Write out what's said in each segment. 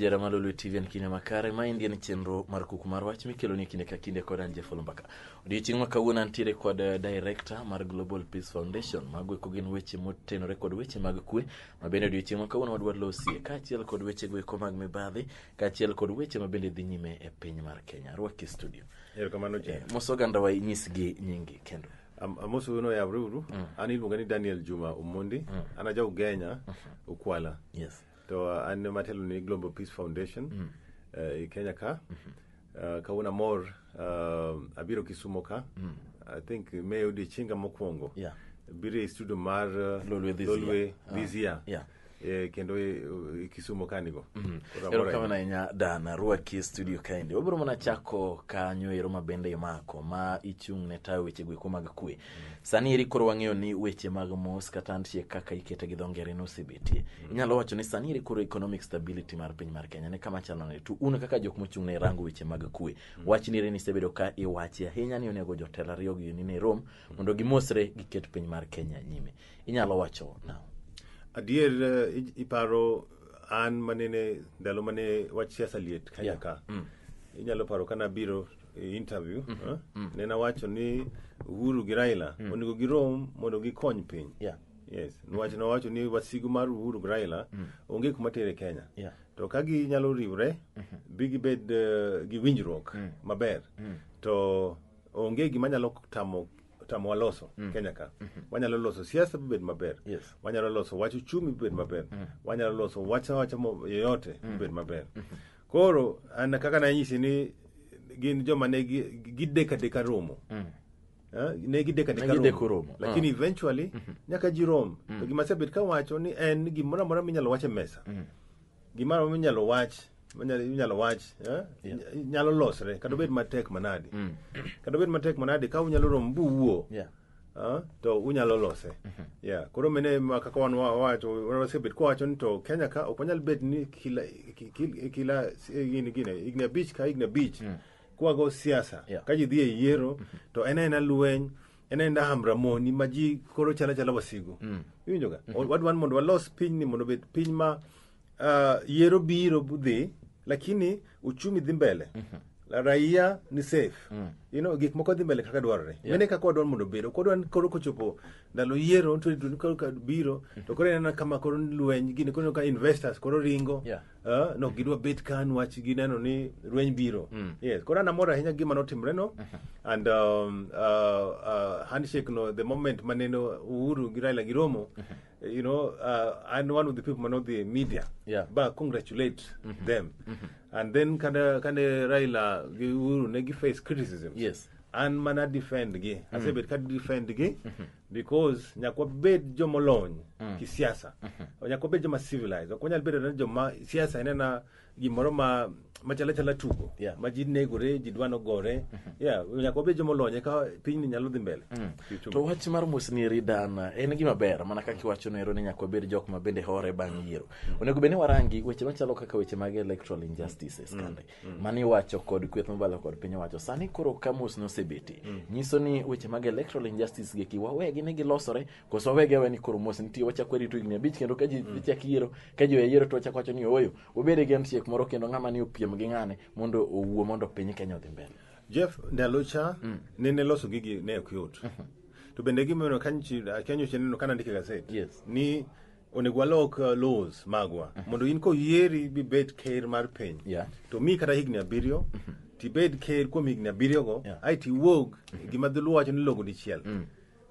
jara malo lwe tv en kinde makare ma endi en chenro mar kuku mar wach mikeloni kinde ka kinde kod an jefolo mbaka odiochieng' ma kawuono antiere kod eh, director mar global peace foundation mago eko gin weche motenore kod weche mag kwe ma bende odiochieng' ma kawuono wadwa losie kaachiel kod wechego eko mag mibadhi kaachiel kod weche ma bende dhi nyime e piny mar kenya rwaki studio erokamano je mos oganda wa inyisgi nyingi kendo Am- amos wuono yawre uru an iluonga ni daniel juma omondi an aja ugenya ukwala yes to uh, an ema atelo ni global peace foundation eh, e kenya ka Eh, kawuono amor eh, abiro kisumo ka i think meyo odiechienga mokwongo Yeah. biro e studio mar eh, Lolwe this lolwe year. this year Yeah. e, kendo e, e Kisumo kanigo mm. erokamano ahinya dan arwaki e studio kaendi wabiro mana chako kanyo ero ma bende imako ma ichung' ne tayo weche gweko mag kwe mm. sani eri koro wang'eyo ni weche mag mos kata ntie kaka ikete gi dho ngere nosebetie mm. inyalo wacho ni sani eri koro economic stability mar piny mar kenya ne kama chalo ne to un kaka jok mochung' ne rango weche mag kwe mm. wach ni eri nisebedo ka iwachi ahinya ni onego jotelo ariyo gi ni ne rom mondo gimosre giket piny mar kenya nyime inyalo wacho na adier eh, i- iparo an manene ndalo mane wach siasa liet kanya Yeah. ka Mm. inyalo paro kana biro e interview eh, ne nawacho ni uhuru gi raila onego girom mondo gikony piny Yeah. yes niwach nawacho ni wasigu mar uhuru gi raila onge kuma tere kenya Yeah. to ka ginyalo riwre bi gibed eh, gi winjruok maber to onge gima nyalo tamo otamowa loso mm. Kenya ka mm -hmm. wanyalo loso siasa bibed maber yes. wanyalo loso wach uchumi bibed maber mm. wanyalo loso wacha wacha yoyote mm. bibed maber mm -hmm. koro an kaka nanyisi ni gin joma ne gideka deka romo mm. Uh, ne gideka deka romo lakini uh. eventually mm -hmm. nyaka ji rom mm. to gima sebet kawacho ni en gimoro amora minyalo wach e mesa mm. Gimoro minyalo wach manyalo- inyalo wach eh, inya- nyalo losre kata obed matek manadi kata obed matek manadi ka unyalo romo buwuo Yeah. ah, to unyalo lose yeah. koro mene ma kaka wan wa- wawacho wasebet kwawacho ni to kenya ka ok wanyal bet ni kila ki- ki- kila eh, gini gine higni abich ka higni abich kwago siasa Yeah. ka ji dhi e yiero to en aena lweny en en daham ramoni ma ji koro chala chala wasigu mm. iwinjo ga mm -hmm. wadwan mondo walos piny ni mondo bed piny ma uh, yero biro dhi lakini uchumi dhi mbele mm -hmm raia ni safe mm. you know, gik moko dhi mbele kaka dwarore yeah. mene kaka wadwar mondo bedo kodwan koro kochopo ndalo yiero biro to koro ineno kama koro lweny gini koro ka investors koro ringo yeah. Ah, no gidwa bet ka nwach gineno ni rweny biro yes koro an amor ahinya gima notimre no and um, uh, uh, handshake no the moment maneno uhuru gi raila gi romo you know uh, and one of the people man of the media Yeah. ba congratulate them and then kane kane raila gi uhuru ne gi face criticism Yes. an mana defend gi asebet ka defend gi because nyaka wabed joma olony kisiasa nyaka wabed joma civilized ok wanyal bedo ni joma siasa en ena gimoro ma machalo chala tugo Yeah. ma ji negore ji dwano gore yeah nyaka wabed joma olony eka pinyni nyalo dhi mbele Kiuchumi. to wach mar mosni eri dan en gima ber mana kaka iwacho nero ni nyaka wabed jok ma bende hore bang' yiero onego bed ni warangi weche machalo kaka weche mag electoral injustices kande mm. mane iwacho kod kweth mobalo kod piny owacho sani koro ka mos nosebeti mm. nyiso ni weche mag electoral injustice geki wawegi ni gilosore koso wawegi awe ni koro mos nitie wachak warito higni abich kendo ka ji mm. chak yiero ka ji oyayiero to wachak wacho ni ooyo wabede gi handshake moro kendo ng'ama ni opiem gi ng'ane mondo owuo mondo piny kenya odhi mbele jeff ndalo cha mm. nene loso gigi ne ok yot mm -hmm. to bende gimeno kanyocha neno kana ndike gaset yes. ni onego walok uh, laws magwa mhm. mondo in koyieri bibed ker mar piny yeah. to mi kata higni abiriyo mm -hmm. tibed ker kuom higni abiriyogo yeah. ai tiwuog mm -hmm. gima dholuo wacho ni logo dichiel mm.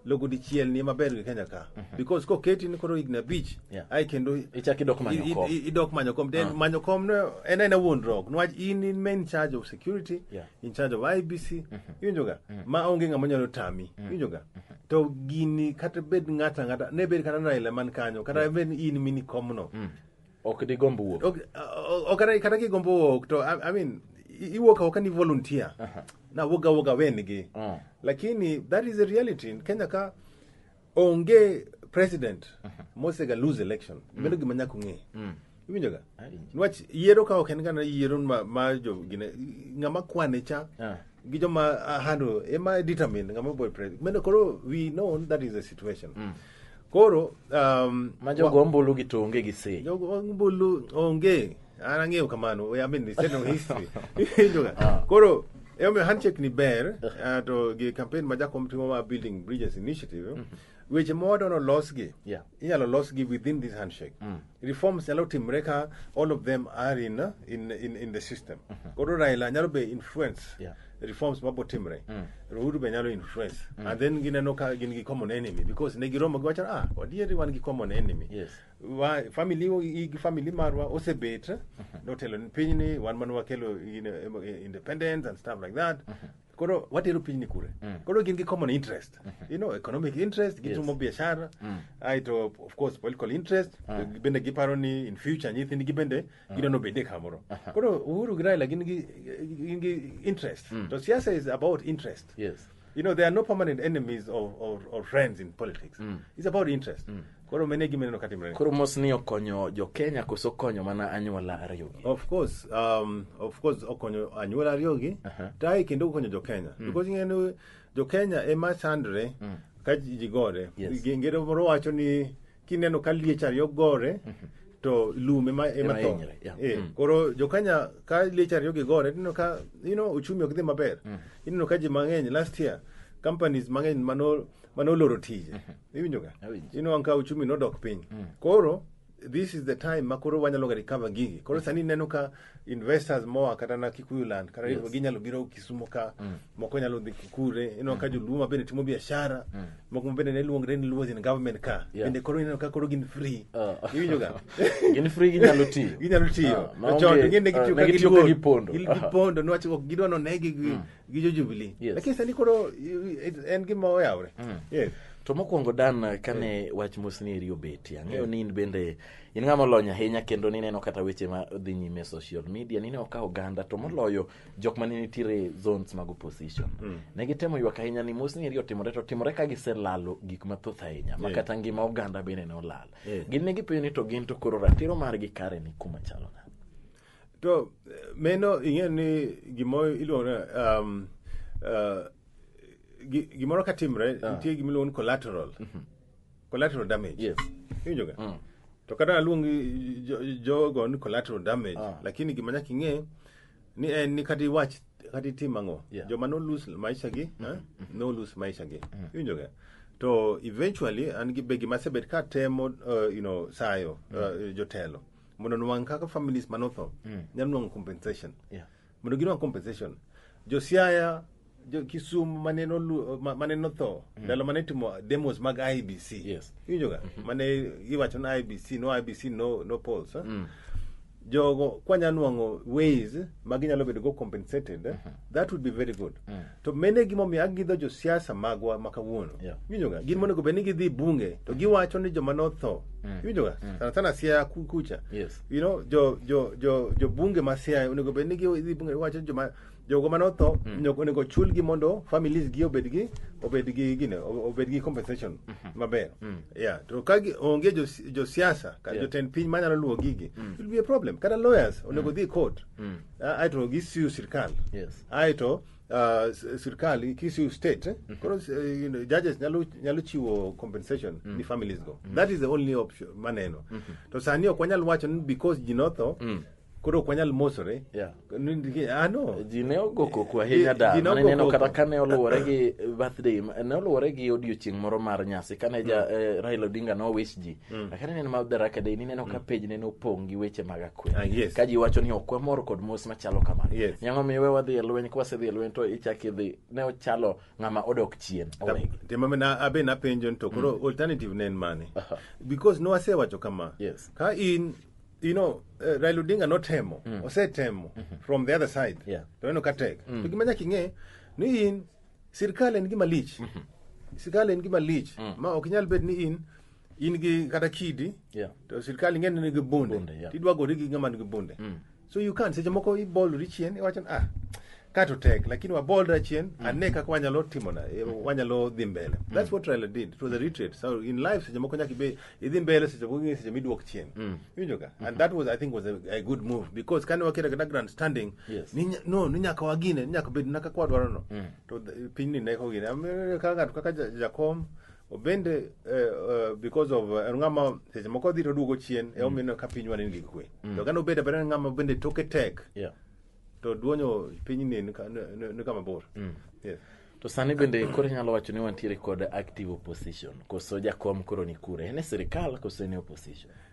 logo dichiel ni maber gi kenya ka mm -hmm. because koketi ni koro higni abich yeah. ai kendo ichak idok manyo kom idok manyo kom then uh. manyo kom no en aena wuondruok niwach in in main charge of security yeah. in charge of ibc mm -hmm. iwinjoga mm -hmm. ma onge ng'ama nyalo tami mm -hmm. iwinjoga mm -hmm. to gini kata bed ng'ata ng'ata ne bed kata Raila man kanyo kata bed ni in mini komno ok digomb wuok Ok- o- o- kata kata kigombo wuok to I, I mean i- iwuok awoka ni volunteer na wuoga wuoga wengi Ah. lakini that is a reality in Kenya ka onge president mosega lose election meno gima nyaka ung'e iwinjoga niwach yiero ka ok en gana yiero ma, ma jo gine ng'ama kwane cha Ah. gi joma ah, handle ema determine ng'ama boy president meno koro we know that is the situation koro um, ma jogo ombulu gi tonge gi sei jogo ombulu onge an ang'eyo kamano I mean, it's no history Iwinjoga? koro emomiyo handshake ni ber ah, to gi campaign ma jakom timo ma building bridges initiative weche modono losgi Yeah. inyalo losgi within this handshake mm. reforms nyalo timre ka all of them are in, uh, in, in, in the system mm -hmm. koro raila nyalo be influence yeah. reforms mabo timre mm. rohuru be nyalo influence mm. and then gineno ka gin gi common enemy because ne giromo gi wachana ah wadieri wan gi common enemy yes. wa, family igi family marwa osebet mm -hmm. notelo ni pinyni wan mane wakelo independence and stuff like that mm -hmm. koro watero pinyni kure Mm. koro gin gi common interest you know economic interest gitimo biashara aito of course political interest bende giparo ni in future nyithindgi bende gidwa nobedie kamoro koro uhuru gi raila gin gi gin gi interest to siasa is about interest yes You know, there are no permanent enemies or, or, or friends in politics. It's about interest. Koro mene gima neno katimre. Koro mos ni okonyo jo Kenya koso konyo mana anyuola ariyo gi. Of course, um, of course okonyo anyuola ariyo gi. Uh -huh. Tai kendo okonyo jo Kenya. Mm. Because ngene jo Kenya ema chandre mm. ka ji gore. Yes. Ngere moro wacho ni kineno ka liech ariyo gore mm -hmm. to lum ema ema tho. Yeah. Eh, mm. Koro jo Kenya ka liech ariyo gi gore tineno ka you know uchumi ok dhi maber. Mm. Ineno ka ji mang'eny last year companies mang'eny manol manoloro tije. Mm -hmm. iwinjoga Awinjo. inwang' ka uchumi nodok piny koro this is the time ma koro wanyalo ga recover gigi koro sani ineno ka investors moa kata na kikuyu land kata Yes. ginyalo biro kisumo ka moko nyalo dhi kikure ineno ka joluo ma bende timo biashara moko ma bende ne luongre ni luos in government ka Yeah. bende koro ineno ka koro gin free Ah. iwinjoga gin free ginyalo tiyo ginyalo tiyo Ah, maonge- Chon, gine ah, gitiyo ka negitiyo ka giluor. gipondo. Gil- gipondo niwach ok gidwa nonegi gi- gi jo Jubilee. Yes. Lakini sani koro i- i- en gima oyawre. Yes. to mokwongo dan kane wach mosni eri obeti ang'eyo ni in bende in ng'ama olony ahinya kendo nineno kata weche ma dhi nyime e social media nineno ka oganda to moloyo jok ma ne nitiere e zones mag opposition ne gitemo ywak ahinya ni mosni eri otimore to otimore ka giselalo gik mathoth ahinya ma kata ngima oganda bende ne olal gin ne gipenjo ni to gin to koro ratiro margi kare ni kuma chalo nade to meno ing'e ni gimoro iluongo ni, um, uh, gi- gimoro ka timre nitie gima iluongo ni collateral collateral damage Yes. iwinjoga to kata aluongi jo- jogo ni collateral damage Ah. lakini gima nyaka ing'e ni en ni kata iwach kata itim ang'o Yeah. joma nolus maisha gi eh, nolus maisha gi iwinjoga to eventually an gi be gima asebet ka temo uh, you know, sayo uh, jotelo mondo nwang' kaka families manotho mm. nyalo nwang'o compensation yeah. mondo ginwang' compensation josiaya jo kisumu mane nolu ma- mane notho mm. ndalo mane timo demos mag ibc Yes. iwinjoga mm-hmm. mane iwacho na ibc no ibc no, no polls eh? mm. jogo kwanya nwang'o ways ma ginyalo bedo go compensated eh? that would be very good mm. to mene gimomiyo agidho josiasa magwa ma kawuono Yeah. iwinjoga gin monego bed ni gidhi bunge to giwacho ni joma notho iwinjoga sana sana siaya ku- kucha Yes. you know jo jo jo jo bunge ma siaya onego bed ni gidhi bunge giwacho ni joma jogo ma notho onego- onego chulgi mondo families gi obed gi obed gi gine obed gi compensation maber yeah to ka gi- onge jo jo siasa ka Yeah. jotend piny manyalo luwo gigi it will be a problem kata lawyers onego dhi court Ah, aeto gisiu sirkal Yes. aeto uh, s- sirkal ikisiu state eh? koro s- eh, you know, judges nyalo, nyalo chiwo compensation ni families go that is the only option maneno to sani ok wanyal wacho ni because ji notho koro ok wanyal mosore Yeah. Ni- ni- ah, no. ji ne ogo koko ahinya Ji- da ji ne mane ogo neno koko. kata kane oluwore gi birthday ma- ne oluwore gi odiochieng' moro mar nyasi kane ja eh, Raila Odinga nowich ji Mm. Lakini aneno ma Daraka Day ni neno ka mm. page neno opong' gi weche mag akwede. Ah, yes. Ka ji wacho ni ok wamor kod mos machalo kamano. Yes. Nyang'o miwe wadhi e lweny ka wasedhi e lweny to ichak idhi ne ochalo ng'ama odok chien. Tema mena abe na penjo to koro mm. alternative ne en mane? Uh -huh. Because no asewacho kama. Yes. Ka in you know uh, Raila Odinga notemo mm. osetemo mm -hmm. from the other side yeah. to neno ka tek mm. to gima nyaka ing'e ni in sirkal en gima lich mm -hmm. sirkal en gima lich mm. ma ok nyal bed ni in in gi kata kidi Yeah. to sirkal ing'e ni nigi bunde Bunde, yeah. tidwa gori gi ng'ama nigi bunde so you can seche moko ibolri chien iwacho ni, ah ka to tek lakini wabolra chien ane kaka wanyalo timona eh, wanyalo dhi mbele that's what Raila did it was a retreat so in life seche moko nyaka ibe idhi mbele seche moko ing'e seche miduok chien iwinjo ka and that was i think was a, a good move because kane waketa kata grand standing Yes. ni nya- no ni nyaka wagine ni nyaka bed na kaka wadwarono to th- pinyni ne kogine Am- ka ng'ato kaka Ja- jakom obende eh, eh, because of eh, en ng'ama seche moko odhi to duogo chien e omiyo ka pinywa ne nigi kwe to kane obedo abeda en ng'ama bende toke tek Yeah. to duonyo piny ni ni ka- ni- ni- ni kama bor Yes. to sani bende koro inyalo wacho ni wantiere kod active opposition koso jakom koro ni kure en e sirikal koso en e opposition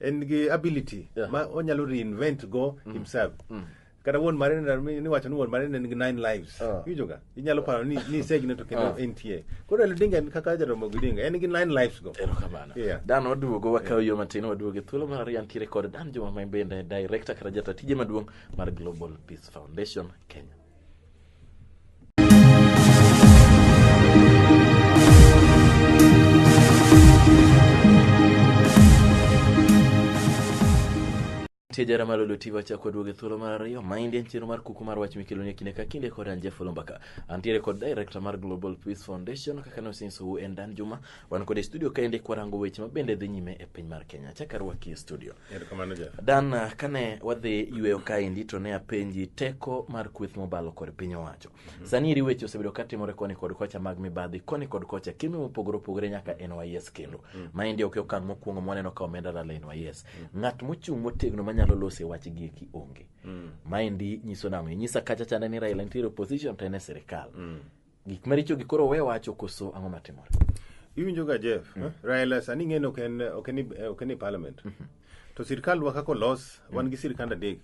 en gi ability Yeah. ma onyalo reinvent go himself kata wuon mare ni- niwacho ni wuon mare ne nigi nine lives Ah. iwinjoga inyalo paro ni ni isegine to kendo Ah. entie koro elodinga en kaka jaromo gidinga en gi nine lives go erokamano Yeah. dan waduogo wakawo yo matin waduogo e thuolo mar ariyo antiere kod dan joma ma bende director kata jata tije maduong' mar global peace foundation kenya Nitie jara malo loti wacha kod wuoge thuolo mar ariyo ma en chenro mar kuku mar wach mikelo ne kinde ka kinde kod an Jeff Lombaka. Antiere kod director mar Global Peace Foundation kaka ne osinso wu en Dan Juma. Wan kod e studio ka ende kwarango weche ma bende dhi nyime e piny mar Kenya. Chakar wakie studio. Erokamano Jeff. Dan, ah, kane wadhi yweyo kaendi to ne apenji teko mar kweth mobalo kod piny owacho. Sani eri weche osebedo ka timore koni kod kocha mag mibadhi, koni kod kocha kembe mopogore opogore nyaka NYS kendo. Maendi ok e okang' mokwongo mwaneno ka omenda lal e NYS. Ng'at mochung' motegno manyalo lose wach gi eki onge. Maendi nyiso nang'o? Inyisa kacha chande ni Raila nitiere opposition to en e sirikal. Gik maricho gi koro we wacho koso ang'o matimore? Iwinjo ga Jeff, Raila sani ing'e ni ok en ok en ok en e parliament. To sirkandwa kaka olos, wan gi sirkand adek.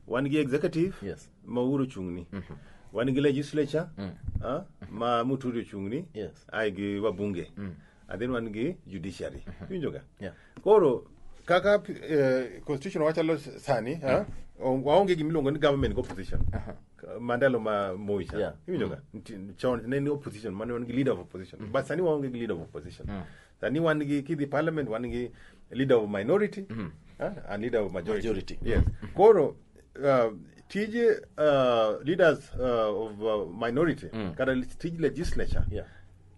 Wan gi executive Yes. ma Uhuru ochung'ni. Wan gi legislature ah, ma Muturi ochung'ni. Yes. Ai gi wabunge. And then wan gi judiciary. Iwinjo ga? Yeah. koro kaka eh, constitution wachalo sani ha? O- waonge gimiluongo ni government gi opposition mandalo ma moi cha Yeah. iwinjoga Nti- chon ne ni opposition mane wan gi leader of opposition but sani waonge gi leader of opposition sani wan gi kidhi parliament wan gi leader of minority ha? and leader of majority, Majority. yes koro uh, tije uh, leaders uh, of uh, minority kata tij legislature Yeah.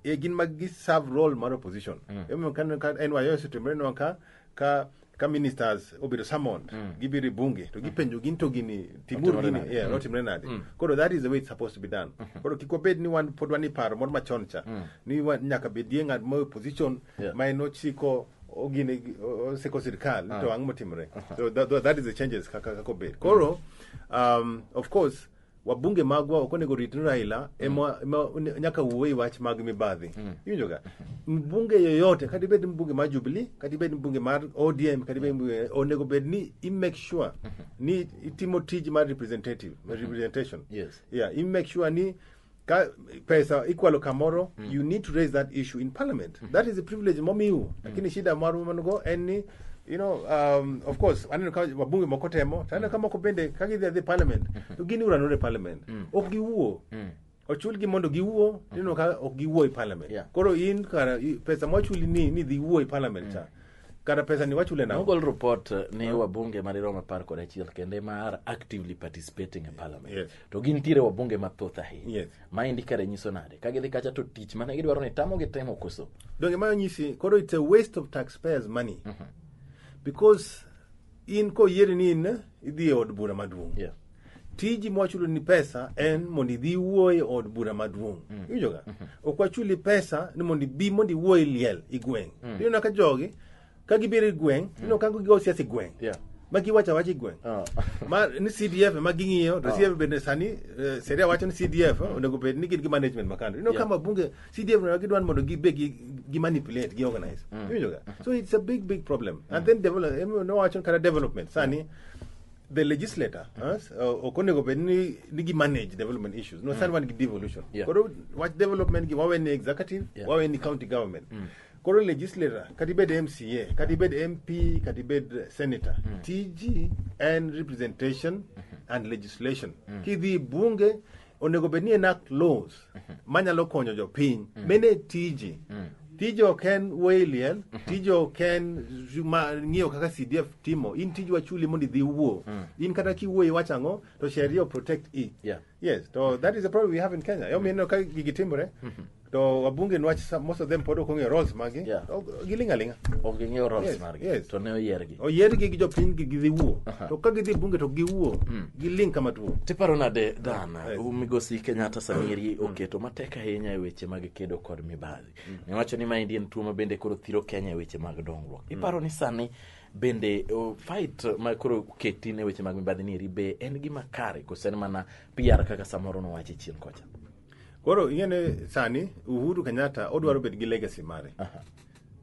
e gin mag gi serve role mar opposition mm. emo kan ka NYO setembre no ka ka ka ministers obedo summoned mm. gibiro e bunge to gipenjo gin to gini timuru Otimore gini nade? yeah, Mm. otimre nade Mm. koro that is the way it's supposed to be done koro kik wabed ni wan pod wan iparo moro machon cha Mm. ni wa- nyaka bedie ng'at ma opposition Yeah. ma en ochiko ogine osiko sirkal Ah. to ang'o motimre so that, that is the changes kaka kaka obed koro um, of course wabunge magwa ok onego rit ni Raila ema ema one- nyaka wuo e wach mag mibadhi iwinjo ga mbunge yoyote kata ibed mbunge mar Jubilee kata ibed mbunge mar ODM kata ibed mbunge onego bed ni i make sure ni itimo tij mar representative representation Yes. yeah i make sure ni ka pesa ikwalo kamoro mm. you need to raise that issue in parliament mm. that is a privilege momiu mm. lakini shida maru manugo en ni you know um, of course aneno ka wabunge moko temo to aneno ka moko bende ka gidhi adhi parliament mm-hmm. to gin uranore parliament mm. ok giwuo mm ochulgi mondo giwuo mm-hmm. nino ka ok giwuo e parliament yeah. koro in kara pesa mwachuli ni ni dhi wuo e parliament mm. cha kata pesa ni wachule na nogol report eh, ni wabunge madirom apar kod achiel kende ma are actively participating in parliament yes. to gintiere wabunge mathoth ahinya Yes. maendi kare nyiso nade ka gidhi kacha to tich mane gidwaro ni tamo gi temo koso donge ma nyisi koro it's a waste of taxpayers money because in koyieri ni in idhi e od bura maduong' Yeah. tiji mwachulo ni pesa en mondo idhi wuo e od bura maduong' iwinjoga ok wachuli pesa ni mondo ibi mondo iwuo e liel i gweng' iyona ka jogi ka gibiro e gweng' mm. ineno kango gigo siasa e gweng' yeah. ma giwacho awacha e gweng' oh. ma ni CDF ema ging'iyo to oh. CDF bende sani eh, seria wacho ni CDF mm. onego bed ni gin gi management makando ineno yeah. kama bunge CDF ne gidwan mondo gibe gi, gi manipulate gi organize mm. iwinjo ga so it's a big big problem mm. and then develop no wacho kata development sani mm. the legislator us uh, okonego bed ni nigi manage development issues no mm. sani wan gi devolution yeah. koro wach development gi wawe ni executive yeah. wawe ni county government mm. Koro legislator, kata ibed MCA, kata ibed MP, kata ibed senator, tiji en representation and legislation. Kidhi e bunge, onego bed ni enact laws manyalo konyo jopiny. Mene tiji. Tiji ok en wayliel, tiji ok en ma- ng'iyo kaka CDF timo. In tiji wachuli mondo idhi wuo. In kata kiwuoyo iwacho ang'o, to sheria o protect i. Yeah. Yes, so that is the problem we have in Kenya. Yo mineno ka gigi timore to wabunge nwach sa- most of them pod ok ong'eyo roles magi. Yeah. To Giling' aling'a. ok ging'eyo roles Yes, margi yes. to ne oyiergi Oyiergi gi jopiny gi gidhi wuo. Aha. To ka gidhi bunge to giwuo. Giling' kama tuo. tiparo nade dan Yes. migosi kenyatta samiri oketo matek ahinya e weche mag kedo kod mibadhi niwacho ni maendi en tuo ma bende koro thiro kenya e weche mag dongruok iparo ni sani bende uh, fight ma koro keti ne weche mag mibadhi ni eri be en gima kare koso en mana PR kaka samoro nowache chien kocha koro ing'eni sani uhuru kenyatta odwaro bedo gi legacy mare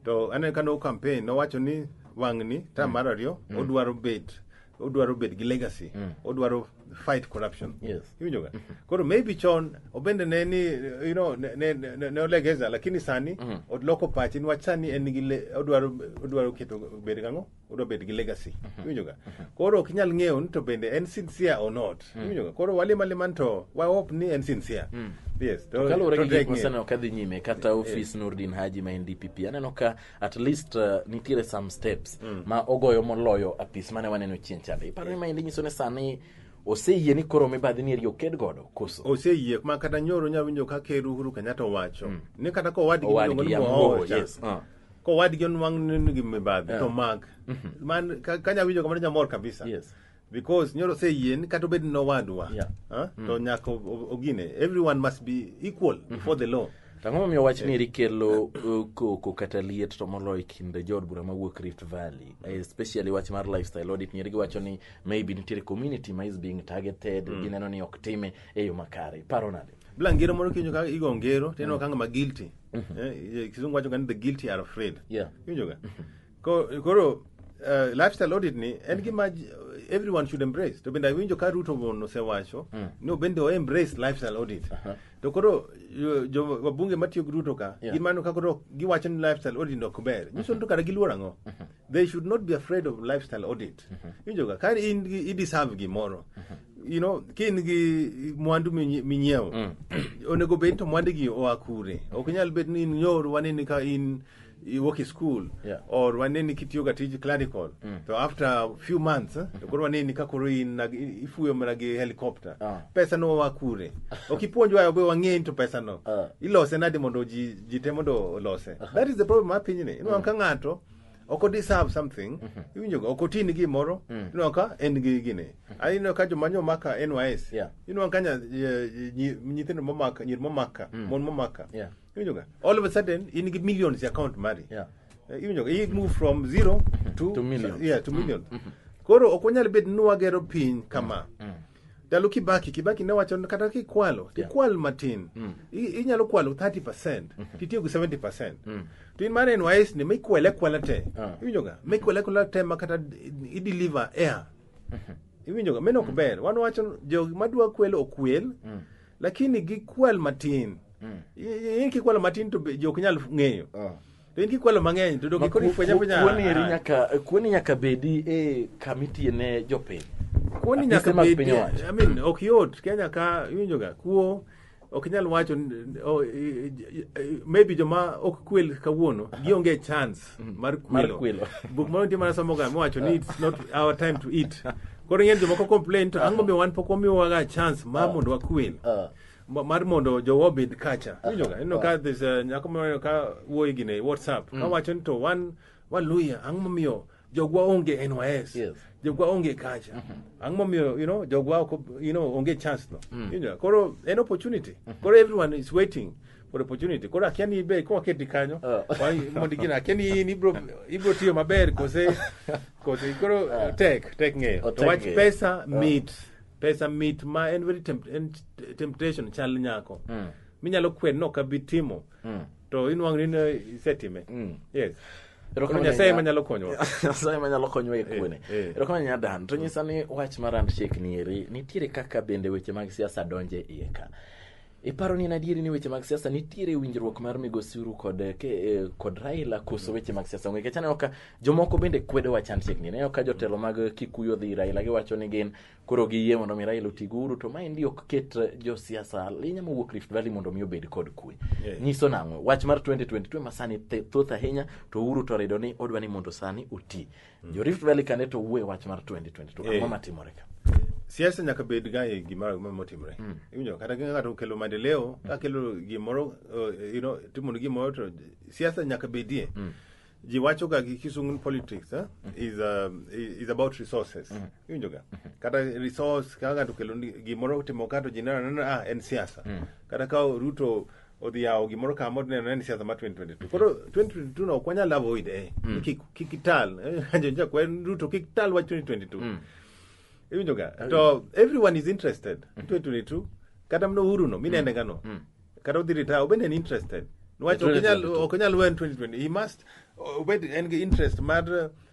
to aneno ka no campaign nowacho ni wang'ni tam mar ariyo odwaro bet odwaro bet gi legacy odwaro fight corruption Yes. iwinjo ga koro maybe chon obende ne ni you know ne, ne, ne, ne olegeza lakini sani oloko pache niwach sani en gi le- odwaro odwaro keto bed gang'o odwa bed gi legacy iwinjo ga koro ok inyal ng'eyo ni to bende en sincere or not iwinjo ga koro walima liman to wa hope ni en sincere yes to- kaluwore to gi gik tek ng'eyo. masani ok adhi nyime kata ofis nurdin haji ma en dpp aneno ka at least uh, nitiere some steps mm. ma ogoyo moloyo apis mane waneno chien chande iparo ni maendi nyiso ni sani oseyie ni koro mibadhi ni eri oked godo koso oseyie ma kata nyoro nya winjo ka ker Uhuru Kenyatta owacho mm. ni kata ka owadgi miluongo ni Mohowo yes. uh. ka owadgi onwang' ni gi mibadhi yeah. to mak mm -hmm. man ka, ka nya winjo kamano nyamor kabisa yes. because nyoro say yien kata obed ni owadwa Yeah. ah, to nyaka o- o- ogine everyone must be equal before the law To ang'o momiyo wach ni eri kelo uh, koko kata liet to moloyo e kind jood bura mawuok Rift Valley Eh, especially wach mar lifestyle audit nyeri giwacho ni maybe nitiere community ma is being targeted gineno ni ok time e yo makare paro nade bila ngero moro kiwinjo ka igo ngero tineno ka ng'ama guilty Eh, eh, kisungu wacho ga ni the guilty are afraid yeah Iwinjoga? Koro uh, lifestyle audit ni en gima j- everyone should embrace to bende awinjo ka ruto mon osewacho Mm. ni obende o embrace lifestyle audit Aha. to koro yo- jo wabunge matiyo gi ruto ka Yeah. gin mano ka koro giwacho ni lifestyle audit no ok ber nyiso ni to kara giluor ang'o they should not be afraid of lifestyle audit winjo ka kar in gi i deserve gimoro you know ka in gi mwandu minyi- minyiewo onego bed to mwandigi oa kure ok nyal bed ni in nyoru wanini ka in you work in school Yeah. or waneni kitiyoga tij clerical to after a few months eh, to koro waneni ka koro in na- ifuyo mana gi helicopter Ah. pesa no wa kure okipuonj wa obe wang'eny to pesa no Ah. ilose nade mondo ji ji te mondo olose that is the problem ma pinyni inwa ka ng'ato ok odeserve something iwinjoga ok oti ni gimoro inwa ka en gi gini Ai, inwa ka joma nyomaka nys Yeah. inwa ka nya- eh, nyi- nyithindo momaka nyir momaka mon momaka Yeah. All of a sudden, in the millions account money. Yeah. Uh, even though it moved from zero to, To millions. Yeah, to million. Koro ok wanyal bet ni wagero piny kama. Ndalo Kibaki, Kibaki ne wacho ni kata kikwalo, tikwal matin. I- Inyalo kwalo 30%, titiyo gi 70%. To in mar NYS ni mikwele kwala te. Ah. Iwinjo ga? Mikwele kwala te ma kata i deliver air. Iwinjo ga? Meno ok ber. Wan wacho jo madwa kwelo okwel. lakini gikwal matin Mm. I- in kikwalo matin to be- ji ok nyal ng'eyo Oh. to in kikwalo mang'eny to dok ikoni fwenya fwenya Kuoni eri nyaka kuoni nyaka bedi e kamiti ne jopiny. kuoni nyaka Apise mag bedi piny owacho. I mean, ok yot kenya ka iwinjoga kuo ok inyal wacho n- o- i- i- i- maybe joma ok kwel kawuono gionge chance mar Mar kwilo kwilo. buk ma nitie mana somo ga miwacho ni it's not our time to eat koro ing'e ni jomoko complain to ang'o miyo wan pok wamiwaga chance ma mondo wakwil Ah. Ma- mar mondo jowa obed kacha winjoga ineno ka this uh, nyako moro ka wuoyi gine e whatsapp ka wacho ni to wan wan luya ang'o momiyo jogwa onge nys Yes. jogwa onge kacha ang'o momiyo you know jogwa ok ob- you know onge chance no winjoga koro en opportunity koro everyone is waiting for opportunity koro akia ni ibe kwa keti kanyo Oh. Wang- mondo gina akia ni in ibro ibro tiyo maber kose kose koro tek tek ng'eyo Oh, to tek wach ng'eyo. pesa mit pesa mit ma en very tempt, en t- temptation chal nyako Mm. minyalo kwen no kabi timo Mm. to inwang' ni ne isetime Mm. yes Koro Erokamano nyasaye nya- manyalo konyowa nyasaye manyalo konyowa e kuone Eh, eh. erokamano nya dan to nyisa ni wach mar handshake ni eri nitiere kaka bende weche mag siasa donje iye ka Iparo ni en adieri ni weche mag siasa nitiere winjruok mar migosi Uhuru kod eh, ke, eh, kod Raila koso weche mag siasa onge kech aneno ka jomoko bende kwedo wach handshake ni aneno ka jotelo mag eh, Kikuyu odhi ir Raila giwacho ni gin koro giyie mondo mi Raila oti gi Uhuru to maendi ok ket eh, josiasa linya mowuok Rift Valley mondo mi obed kod kwe Yeah. nyiso nang'o wach mar 2022 ma sani the- thoth ahinya to Uhuru to rido ni odwa ni mondo sani oti jo Rift Valley kane to wuo e wach mar 2022 Eh. ang'o matimore ka siasa nyaka bed ga e gima ma- motimre iwinjo kata ka ng'ato okelo maendeleo ka kelo gimoro uh, you know, timo ni gimoro to siasa nyaka bedie ji wacho ga gi kisungu politics eh, is, um, i- is about resources iwinjo ga kata resource ka ng'ato okelo ni gimoro timo kato ji neno neno ah en siasa kata ka ruto odhi yawo gimoro kama odhi neno ni siasa ma 2022 koro 2022 no ok wanyal avoid eh Ni kik kik ital eh, jonja kwen ruto kik ital wach 2022 iwinjoga to everyone is interested 2022 kata mno uhuru no minende ngano kata odhi retire obende en interested niwach ok inyal 2022. ok inyal wen 2020 he must obed en gi interest mar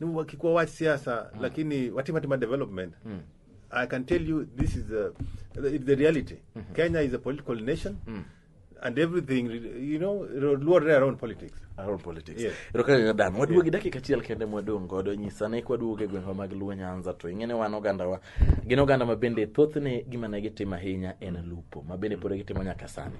ni wakikuwa wach siasa lakini watima tima development i can tell you this is the, it's the reality kenya is a political nation and everything you know luore around politics Our politics. Yes. Erokamano ne Dan. Waduogo gi dakika achiel kende mwadong' godo nyisa ne kwaduogo e gweng'wa mag Luo Nyanza to ing'e ni wan ogandawa gin oganda ma bende thothne gima ne gitimo ahinya en lupo ma bende pod gitimo nyaka sani.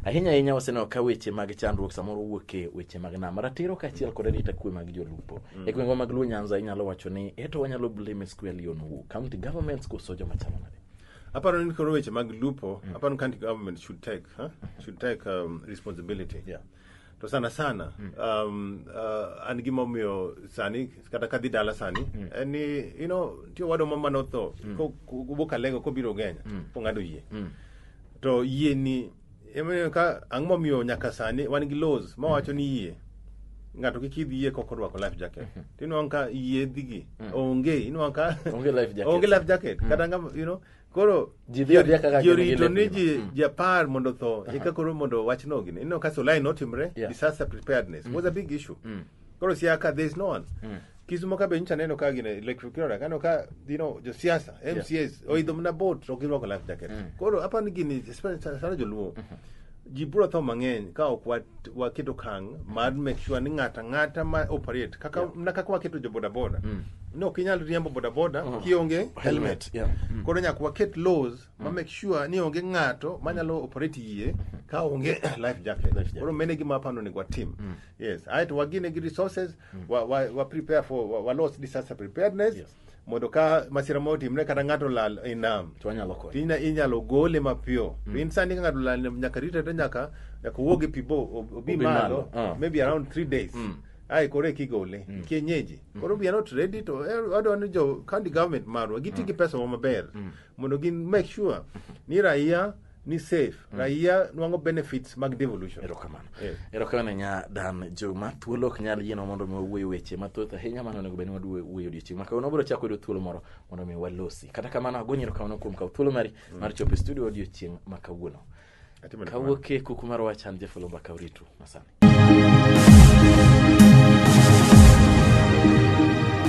Ahinya ahinya waseneno ka weche mag chandruok samoro wuok e weche mag nam ratiro kaachiel kod arita kwe mag jolupo. Mm. E gwengwa mag Luo Nyanza inyalo wacho ni eto wanyalo blame square Leon Wu, county governments koso joma chalo nade? Aparo ni koro weche mag lupo, mm. aparo ni county government should take, huh? should take um, responsibility. Yeah. to sana sana um, uh, an gima omiyo sani kata kadhi dala sani en ni you know nitie owadwa moro mane otho ko- ko- wuok alengo kobiro genya kong'ado yie to yie ni emomiyo ka ang'o momiyo nyaka sani wan gi laws ma wacho ni yie ng'ato kik idh yie kok orwako life jacket to inwang' ka yie dhigi onge inwang' ka Onge life jacket. onge life jacket kata ng'ama you know koro Ji dhi adhiya kaka ji gin gi orito ni lepgi. ji Mm. ji apar mondo tho eka koro mondo wachno gini ineno ka solai notimre Yeah. disaster preparedness was a big issue Mm. koro siaka there is no one Mm. kisumo ka be nyicha neno ka gine electric kira kano ka you know josiasa mcs oidho mna boat to girwako life jacket Mm. koro apani gini especially sana joluo ji biro tho mang'eny ka ok wat- waketo kang mar make sure ni ng'ata ng'ata ma operate kaka na kaka waketo jo bodaboda ni ok inyal riembo bodaboda kionge helmet yeah. koro nyaka waket laws ma make sure ni onge ng'ato manyalo operate yie ka onge life jacket koro mene gima apando ni watim yes aeto wagine gi resources wa, wa, wa prepare for wa, wa loss disaster preparedness Yes. mondo ka masira moro otimre kata ng'ato lal e nam to wanyalo konyo tinya inyalo gole mapiyo to in sani ka ng'ato lal nam, nyaka rite to nyaka nyaka owuog e pi bo ob- obi Obi malo malo, ah. maybe around three days Mm. ai koro eki gole kienyeji koro we are not ready to eh, wadwa ni jo county government marwa giti gi pesa wa maber mondo gin make sure ni raia ni safe raia nwango benefits mag devolution erokamano Eh. erokamano ne nya dan juma thuolo ok nyal yienwa mondo mi wawuoyo weche mathoth ahinya mano onego bed ni waduwe- wuoyo odiochieng' ma kawuono wabiro chako yudo thuolo moro mondo mi walosi kata kamano agonyi erokamano kuom kawo thuolo mari mar chopo e studio odiochieng' ma kawuono Atimo erokamano. kawuok e kuku mar wachan jefulumba kauritu masani